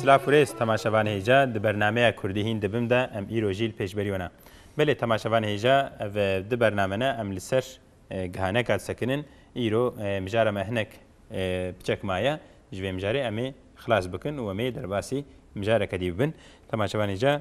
Silav û rêz temaşevan hêja di bernameya Kurdî hîn dibim de em îro jî li pêş berî wan a. Belê temaşevan hêja ev du bername ne em li ser gihaneka disekinin îro mijara me hinek piçek maye ji vê mijarê em ê xilas bikin û em ê derbasî mijareke dî bibin. Temaşevan hêja.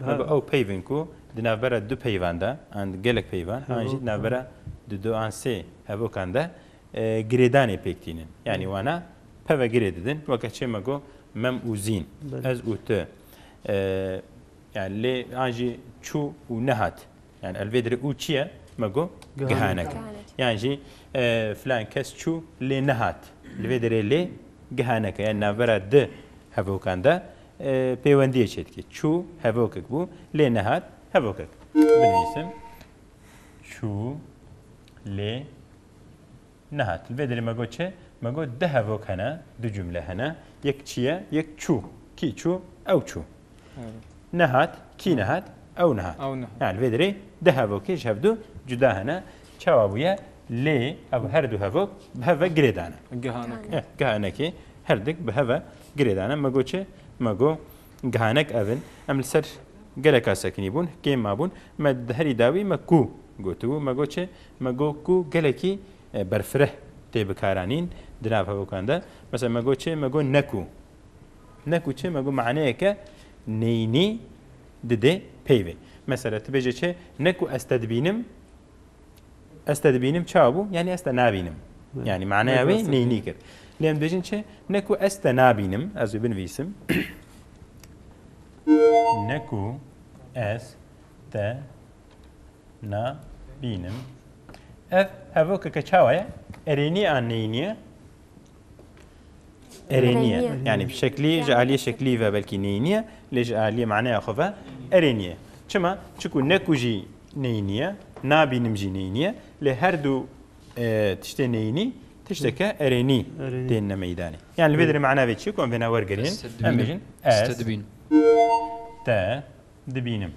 Me bi ew peyv in ku di navbera du peyvan de an di gelek peyvan an jî di navbera di du an sê hevokan de girêdanê pêk tînin. Yanî wana peve girê didin weke çê me got mem û zîn, ez û tu. Yani lê an jî çû û nehat. Yani el vê dirê û çi ye? Me got gihanek. Yan jî filan kes çû lê nehat. Li vê dirê lê gihanek e. Yani navbera di hevokan de pêwendiyê çêdikê. Çû hevokek bû lê nehat hevokek. Binivîsim çû lê nehat. Li vê derê me got çi? Me got du hevok hene, du cumle hene. Yek çi ye? Yek çû. Kî çû? Ew çû. Nehat, kî nehat? Ew nehat. Yani li vê derê du hevokê ji hev du cuda hene. Çawa bûye? Lê ev her du hevok bi hev ve girê dane. Gihanekê. Gihanekê her dik bi hev ve Girêdane me got çi? Me got gihanek ev in, em li ser geleka sekinî bûn, kêm mabûn, me di herî dawî me kû gotibû, me got çi? Me got kû gelekî berfireh tê bikaranîn di nav hevokan de. Mesela me got çi? Me got nekû. Nekû çi? Me got maneyeke neyînî didê peyvê. Mesela tu bêje çi? Nekû ez te dibînim. Ez te dibînim çawa bû? Yanî ez te nabînim. Yanî maneya wê neynî kir. Lê em dibêjin çi? Ne ku ez te nabînim, ez wê binivîsim. Ne ku ez te nabînim. Ev hevokeke çawa ye? Erênî an neynî ye. Erê niye. Yani bir şekli ji aliyê şeklî ve belkî neyî niye lê ji aliyê maneya xwe ve erê niye. Çima? Çiku neku jî neyî niye, nabînim jî neyî niye lê her du e, tiştê neyînî tişteke erênî tên ne meydanê. Yani li vê derê mana vê çi ku em vêna wergerînin em bêjin ez te dibînim.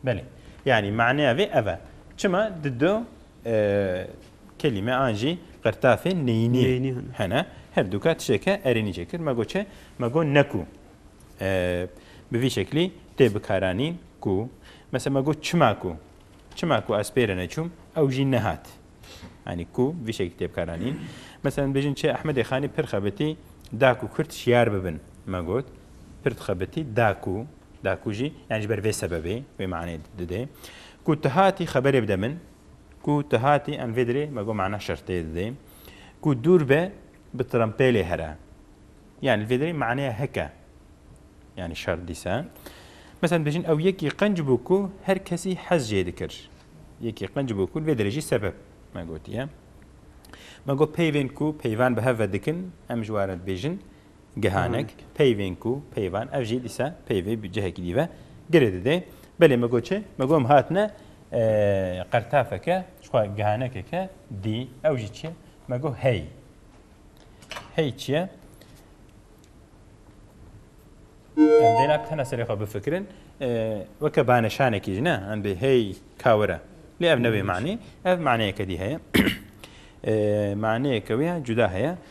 Belê. Yanî maneya vê ev e. Çima di du kelîme an jî qirtafê neyînî hene. Her dûka tişteke erênî çêkir. Me got çi? Me got ne ku bi vî şeklî tê bikaranîn ku mesela me got çima ku çima ku ez pêre neçûm ew jî nehat. Yanî ku vî şeklî tê bikaranîn. Mesela bêjin çi Ehmedê Xanî pir xebitî da ku Kurd şiyar bibin. Me got pir dixebitî da ku Da ku jî yan ji ber vê sebebê wê manê dide ku tu hatî xeberê bide min ku tu hatî em vê dirê me got mana şertê dide ku dûr be bi trempêlê here yan li vê dirê maneya heke yanî şert dîsa mesela dibêjin ew yekî qenc bû ku her kesî hez jê dikir yekî qenc bû ku li vê dirê jî sebeb me gotiye me got peyvên ku peyvan bi hev ve dikin em ji warin dibêjin Gihanek, peyvên ku, peyvan, ev jî dîsa peyvê bi cihekî dî ve girê dide. Belê me got çi? Me got em hatine qertafeke jixwe gihanekeke dî. Ew jî çi ye? Me got hey. Hey çi ye? Em dêna tena serê xwe bifikirin. Weke baneşanekî jî ne? Em dê hey kawire. Lê ev ne wê manê. Ev maneyeke dî heye. Maneyeke wê ya cuda heye.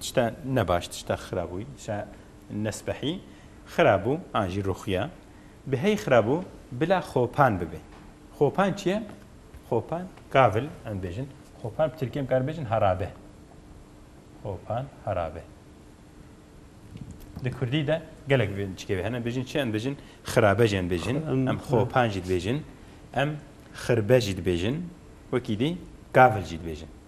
Tişta ne baş tişta xira bû tişta nesbehî xira bû an jî ruxiya bi hey xira bû bila xopan bibê. Xopan çi ye? Xopan gavil em dibêjin xopan bi tirkî em kar bêjin herabe. Xopan herabe. Di kurdî de gelek vê çikê vê hene bêjin çi em dibêjin xirabe jî em dibêjin em xopan jî dibêjin em xirbe jî dibêjin wekî dî gavil jî dibêjin.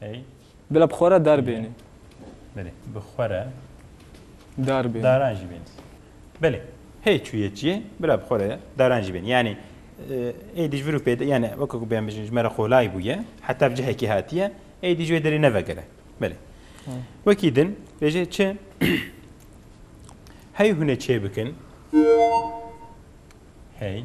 Ey. Bila bi xwe re dar bênê. Belê. Bi xwe re. Dar bênê. Daran jî bênê. Belê. Hê çûyê çîyê bila bi xwe re daran jî bênê. Yanî ê dî ji vir û pêde yanî weke ku bêhna bijîn ji me re qolay bûye. Heta bi cihekî hatiye. Ê dî ji wê derê nevegere. Belê. Wekî din bêje çi hey hûn ê çêbikin. Hey.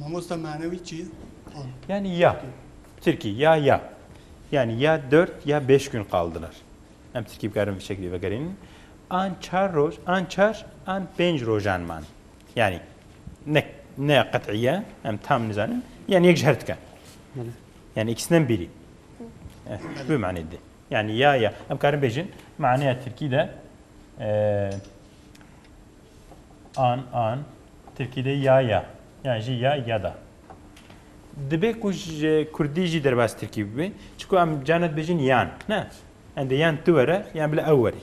Mamosta manewî çi ye? Yanî ya, bi tirkî ya ya. Yanî ya dört ya bêş gün qaldilar. Em tirkî bikarin vê şeklî vegerînin. An çar roj, an çar, an pênc rojan man. Yanî ne ne qet'î ye, em tam nizanin, yanî yek ji her dike. Yanî îkisine min bîrî. Ji vê manê dide. Yanî ya ya. Em karin bêjin maneya tirkî de an, an, tirkî de ya, ya, yan jî ya, yada. Dibe ku ji kurdî jî derbas tirkî bibe. Çiku em carna dibêjin yan. Ne. Endê yan tu were, yan bila ew were.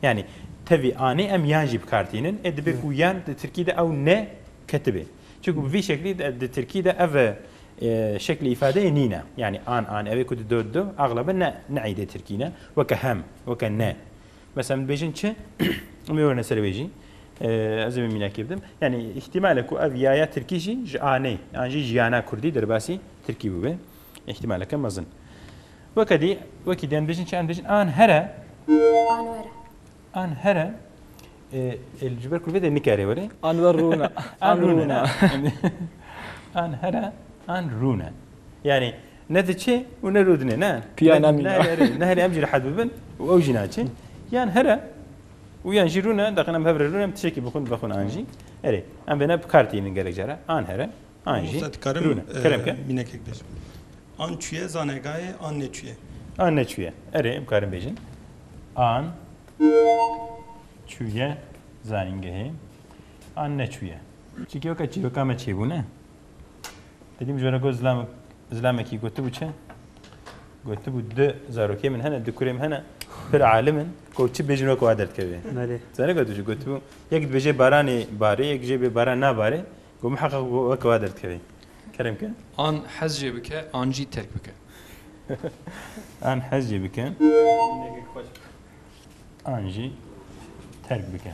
Yanî tevî anê em yan jî bikartînin. Ê dibe ku yan di tirkî de ew ne ketibe. Çiku bi vî şeklî di tirkî de ev şeklê îfadeyê nîne. Yanî an, an, evê ku di do, di do, exlebe ne neîdê tirkî ne. Weke hem, weke ne. Mesela min dibêjin çi? Em ê wêrine serê wê jî. Ez ê wê mînakê bidim. Yanî îhtîmale ku ev yaya tirkî jî ji anê an jî jiyana kurdî derbasî tirkî bibe. Îhtîmaleke mezin. Weke dî wekî dê em dibêjin çi em dibêjin an here An were. an here ji ber kurvê de nikare were. An wer rûne. An rûne. An here an rûne. Yanî Ne diçe û ne rûdine ne. Piya ne mîna. Ne herê em jî rehet bibin û ew jî naçe. Yan here û yan jî rûne deqin em hev re rûne em tişekî bixwin vexwin an jî. Erê em vêne bi kar tînin gelek care an here an jî rûne. Kerem ke. Mînekek bêjim. An çûye zane gaye an neçûye. An neçûye. Erê em karin bêjin. An çûye zanîngehê an neçûye. Çîkî weke çîroka me çêbûne. Dilî mijara got zilam zilamekî gotibû çi? Gotibû du zarokê min hene, du kurê min hene, pir alim in, ku çi bêjin wek wa derdikeve. Zane gotibû jî gotibû yek dibêje baranê barê, yek jê bê baran nabarê, ku miheqeq wek wa derdikeve. Kerem ke? An hez jê bike, an jî terk bike. An hez jê bike. An jî terk bike.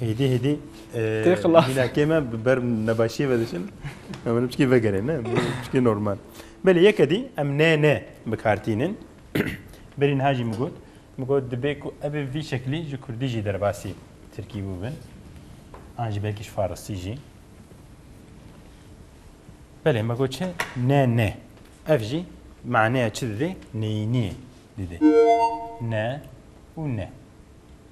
Hêdî hêdî Tê xilas. mînakê me bi ber nebaşiyê ve diçin. Em min çikî vegerê ne bu çikî normal. Belê yeke dî em ne ne bi kar tînin. Berî niha jî min got min got dibê ku ev ê vî şeklî ji kurdî jî derbasî tirkî bûbin. An jî belkî ji farisî jî. Belê me got çi ne ne. Ev jî maneya çi didê? Neyîniyê didê. Ne û ne.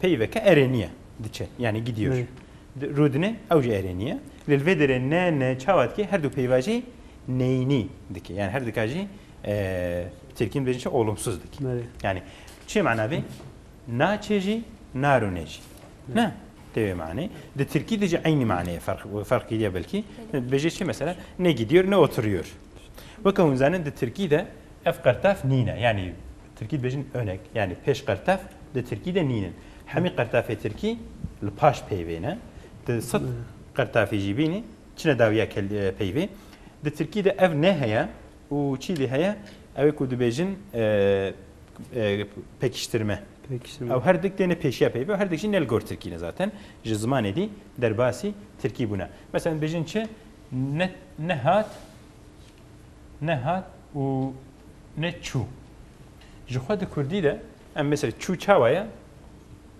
Peyî veke erê nîye, diçe yanî gîdîyor. Rûdine ew jî erê nîye. Lê li vê derê ne ne çawa dike her du peyva jî neyînî dike. Yanî her dika jî bi tirkî dibêjin çi olumsuz dike. Yanî çi mana vê? Naçê jî narûne jî. Ne? Tê wê manê. Di tirkî de jî eynî maneyê ferq kiriye belkî. Dibêje çi mesela ne gîdîyor ne oturîyor. Weke hûn zanin di tirkî de ev qertaf nîne. Yanî Tirkî dibêjin önek yanî pêş qertef di tirkî de nîn in. Hemî qertefê tirkî li paş peyvê ne. Tu sed qertefî jî bînî çine dawiya peyvê. Di tirkî de ev neheye û çî lê heye ew ê ku dibêjin pekiştirme. Ew her dik têne pêşiya peyvê û her dik jî ne li gor tirkî ne zaten ji zimanê dî derbasî tirkî bûne. Meselen dibêjin çi ne hat ne hat û ne çû. Ji xwe di Kurdî de em mesela çû çawa ye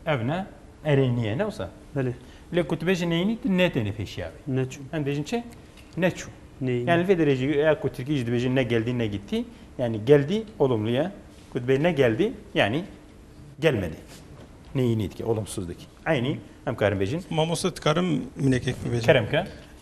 ev ne erê niye ne wisa. Belê. Lê ku tu bêjî neynî tu netêne pêşiya wê. Ne çû. Em dêjin çi? Ne çû. Neynî. Yani li vê derê jî eya ku Tirkî jî dibêjin ne geldî ne gittî yani geldî olumlu ye. Ku dibê ne geldî yani gelmedi. Neynî dike, olumsuz dike. Eynî em karin bêjin. Mamoste dikarim minekek bibêjin. Kerem ke.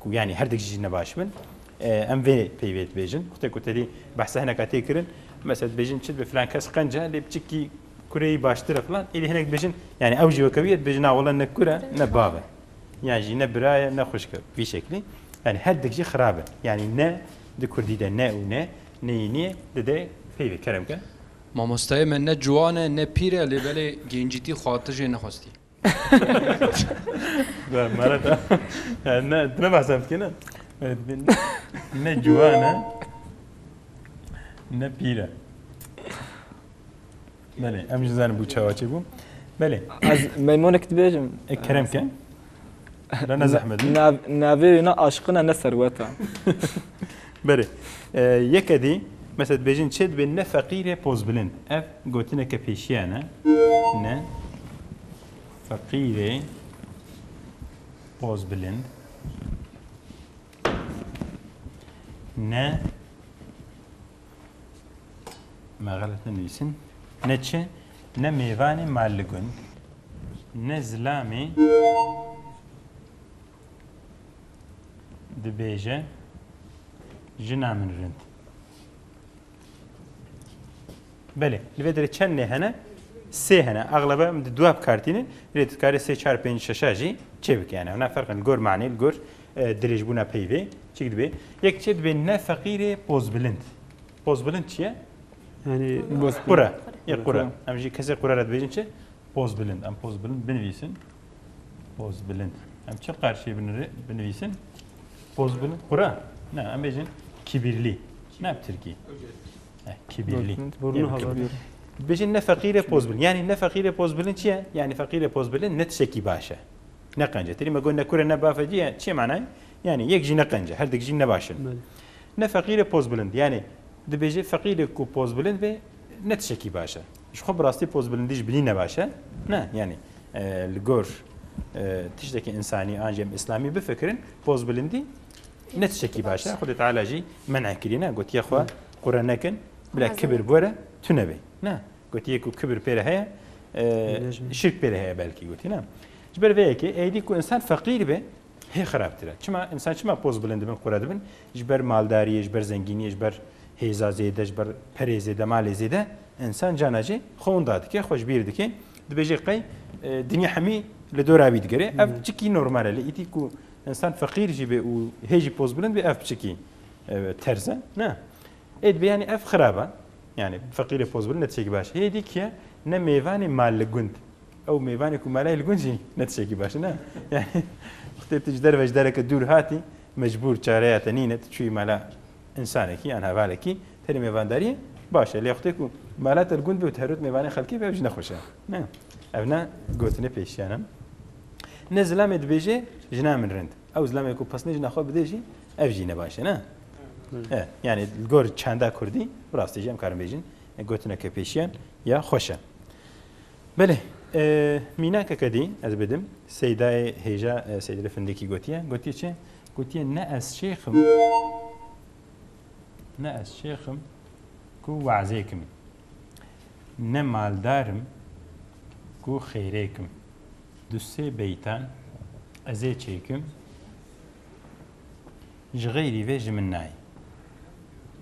ku yanî her dik jî nebaş bin em vê peyvê dibêjin xutê ku terî behsa hineka tê kirin mesela dibêjin çi dibe filan kes qence lê biçikî kureyî baştir e filan êdî hinek dibêjin yanî ew jî wekewiye dibêjin na wele ne kur e ne bav e yan jî ne bira ye ne xwişk e vî şeklî yanî her dik jî xirab e yanî ne di kurdî de ne û ne neyî niye dide peyvê kerem ke Mamostayê me ne ciwan e ne pîr e lê belê gencîtî xwe tijê nexwestî. Merata ne tu ne behsa bikî ne. Ne ciwan e ne pîr e. Belê em ji zanî bû çawa çê bû. Belê. Ez meymonek dibêjim. E kerem ke. Ne zehmet. Navê wê ne aşiqin e ne serwet e. Berê, yeke dî mesela dibêjin çê dibê ne feqîr e pozbilind. Ev gotineke pêşiyan e. Ne feqîrê pozbilind. Ne me xelet nenivîsin. Ne çi? Ne mêvanê maligun. Ne zilamê dibêje jina min rind. Belê, li vê derê çend nê hene? Sê hene. Eglebe em di duab kartîne lê tu dikarî sê çar pênc şeşa jî çêbikî hene. Hûna ferqin li gor manê li gor dirêjbûna peyvê çik dibê. Yek çê dibê ne feqîrê pozbilind. Pozbilind çi ye? Yani qura. Ye qura. Em jî kesê qura re dibêjin çi? Pozbilind. Em pozbilind binivîsin. Pozbilind. Em çi qarşiyê binivîsin? Pozbilind. Qura? Ne, em bêjin kibirlî. Ne bi Tirkî. Eh, kibirlî. Bêjin ne feqîrê pozbilind. Yani ne feqîrê pozbilind çi ye? Yani feqîrê pozbilind ne tişekî baş e. Ne qence. Tirî me got ne kure ne bafe cî ye. Çi ye manayê? Yani yek jî ne qence. Her dik jî ne baş in. Ne feqîrê pozbilind. Yani dibêje feqîrê ku pozbilind be ne tişekî baş e. Ji xwe bi rastî pozbilindî ji binî ne baş e? Ne, yanî li gor tiştekî însanî an jî em îslamî bifikirin, pozbilindî ne tiştekî baş e. Xwedê Teala jî men'e kirîne, gotiye xwe qure nekin, bila kibir bi we re tu nebê. Ne, gotiye ku kibir pê re heye, şirk pê re heye belkî gotî ne. Ji ber vê yekê êdî ku însan feqîr be, Hê xerabtir e. Çima? Însan çima poz bilind dibin, qure dibin? Ji ber maldariyê, ji ber zengîniyê, ji ber hêza zêde, ji ber perê zêde, malê zêde însan cana jê xwe winda dike, xwe ji bîr dike. Dibêje qey dinya hemî li dora wî digere. Ev çikî normal e. Lê îtî ku însan feqîr jî bê û hê jî poz bilind bê ev çikî terz e. Ne. Ê dibê yanî ev xerab e. Yani feqîrê pozbilind ne tişekî baş. Hê dî kî ye ne mêvanê mal li gund Ew mêvanê ku mala ye li gund jî ne tiştekî baş e ne. Yanî xwedê tu ji derve ji dereke dûr hatî, mecbûr çareya te nîne, tu çûyî mala însanekî yan hevalekî, tenê mêvandariyê baş e. Lê xwedê ku mala te li gund be û tu herot mêvanê xelkê be ev jî ne xweş e. Ne. Ev ne gotinê pêşiyan e. Ne zilamê dibêje jina min rind. Ew zilamê ku pesnê jina xwe bidê jî ev jî ne baş e ne. E, yanî li gor çanda Kurdî bi rastî jî em karin bêjin gotineke pêşiyan ya xweş e. Belê, mînakeke dî ez bidim, Seydayê hêja Seydîli Findikî gotiye, gotiye çi? Gotiye ne ez şêx im, ne ez şêx im ku we'zê kim, ne maldar im ku xêrê kim. Du sê beytan ez ê çêkim, ji xeyrî vê ji min nayê.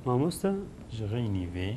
Mamoste? Ji xeynî vê.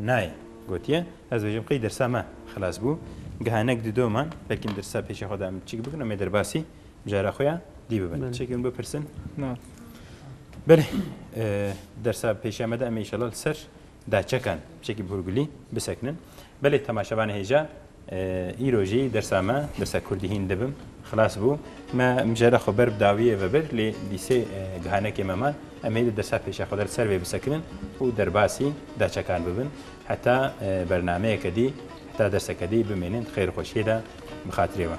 Nayê. Gotiye, ez bêjim qey dirsa me xilas bû. Gihanek di do man, belkî em dirsa pêşê xwe de em çik bikin, em ê derbasî cara xwe ya dî bibin. Çekê min bipirsin. Na. Belê, dersa pêşiya me de em ê îşallah li ser daçekan çekî bi hûrgulî bisekinin. Belê temaşevanê hêja Îro jî dersa me, dersa kurdî hîn dibim, xilas bû. Me mijara xwe ber bi dawiyê ve bir lê dî sê gihanekê me man. Em ê di dersa pêşa xwe de li ser vê bisekinin û derbasî daçekan bibin. Heta bernameyeke dî, heta derseke dî bimînin di xêr û xweşiyê de bi xatirê we.